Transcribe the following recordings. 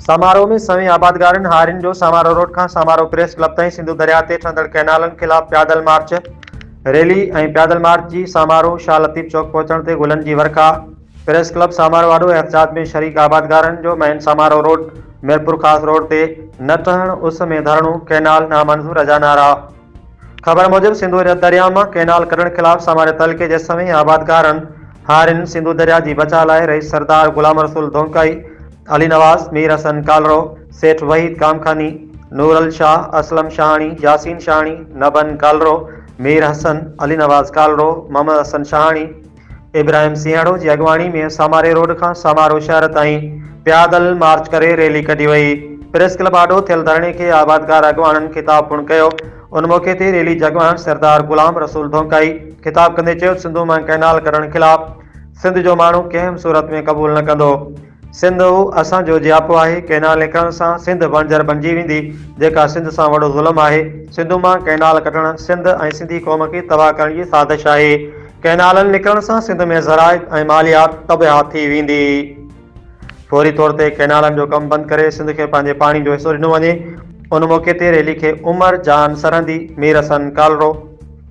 سامارو ۾ سوين آبادگارن هارين جو سامارو روڊ کان سامارو پريس ڪلب تائين سنڌو درياهه تي ٺهندڙ ڪئنالن خلاف پيادل مارچ، ريلي ۽ پيادل مارچ جي سامارو شاهه لطيف چوڪ پهچڻ تي گلن جي ورکا، پريس ڪلب سامارو آڏو احتجاج ۾ شريڪ آبادگارن جو مئن سامارو روڊ، ميرپورخاص روڊ تي نه ٺهڻ، اس ۾ ڌرڻو، ڪئنال نامنظور اجا نعرا. خبر موجب سنڌو رت درياء مان ڪئنال ڪڍڻ خلاف ساماري تعلقي جي سوين آبادگارن هارين سنڌو درياء جي بچاء لاء رئيس سردار غلام رسول ڌونڪائي، علي نواز، مير حسن ڪالرو، سيٺ وحيد ڪامخاني، نورل شاهه، اسلم شاهاڻي، ياسين شاهاڻي، نبن ڪالرو، مير حسن، علي نواز ڪالرو، محمد حسن شاهاڻي، ابراهيم سينهڙو جي اڳواڻي ۾ ساماري روڊ کان سامارو شهر تائين پيادل مارچ ڪري ريلي ڪڍي وئي. پريس ڪلب آڏو ٿيل ڌرڻي کي آبادگار اڳواڻن خطاب پڻ ڪيو. ان موقعي تي ريلي جي اڳواڻ سردار غلام رسول ڌونڪائي خطاب ڪندي چيو ته سنڌو مان ڪئنال ڪڍڻ خلاف سنڌ جو ماڻهو ڪنهن به صورت ۾ قبول نه ڪندو. سنڌ هو اسان جو جياپو آهي، ڪئنال نڪرڻ سان سنڌ بڻجر بڻجي ويندي، جيڪا سنڌ سان وڏو ظلم آهي، سنڌو مان ڪئنال ڪٽڻ سنڌ ۽ سنڌي قوم کي تباهه ڪرڻ جي سازش آهي، ڪئنالن نڪرڻ سان سنڌ ۾ زراعت ۽ ماليات تباهه ٿي ويندي، فوري طور تي ڪئنالن جو ڪم بند ڪري سنڌ کي پنهنجي پاڻي جو حصو ڏنو وڃي، ان موقعي تي ريلي کي عمر جان سرهندي، ميرحسن ڪالرو.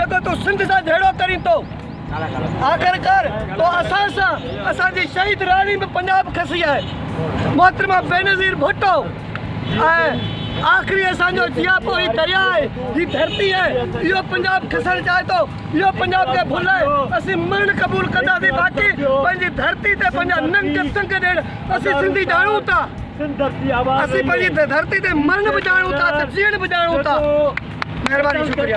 جيڪو تون سنڌ سان جهيڙو ڪرين ٿو آخرڪار تو اسان سان اسان جي شهيد راڻي به پنجاب کسي آهي محترمه بينظير ڀٽو ۽ آخري اسان جو جياپو هي دريا آهي هي ڌرتي آهي اهو پنجاب کسڻ چاهي ٿو اهو پنجاب کي ڀل آهي اسين مرڻ قبول ڪنداسين باقي پنهنجي ڌرتي تي پنهنجا ننگ سنگ ڏيڻ اسين سنڌي ڄاڻون ٿا اسين پنهنجي ڌرتي تي مرڻ به ڄاڻون ٿا ته جيئڻ به ڄاڻون ٿا مهرباني شڪريا